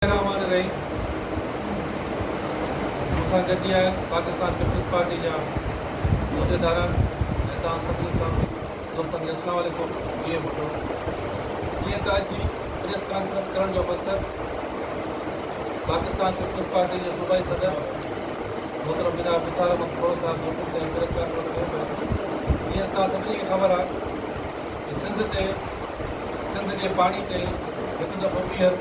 طرح امان رحيم مون سان گڏجي آيا آهن پاڪستان پيپلز پارٽي جا عهديداران ۽ توهان سڀني سامي دوستن کي اسلام عليڪم جيئي ڀٽو جيئن ته اڄ جي پريس ڪانفرنس ڪرڻ جو مقصد پاڪستان پيپلز پارٽي جي صوبائي صدر محترم جناب نثار احمد کهڙو صاحب جو ڪجهه تائين پريس ڪانفرنس ڪيو پيو جيئن ته توهان سڀني کي خبر آهي ته سنڌ تي سنڌ جي پاڻي تي هڪ دفعو ٻيهر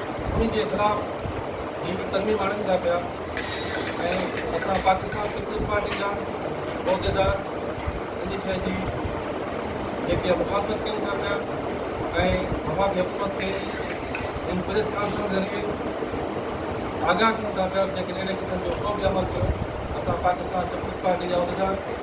انهن جي خلاف هي به ترميم آڻين ٿا پيا ۽ اسان پاڪستان پيپلز پارٽي جا عهديدار ان شيء جي جيڪي مخالفت ڪيون ٿا پيا ۽ وفاقي حڪومت کي ان پريس ڪانفرنس ذريعي آگاهه ڪيون ٿا پيا جيڪڏهن اهڙي قسم جو ڪو به عمل ٿيو اسان پاڪستان پيپلز پارٽي جا عهديدار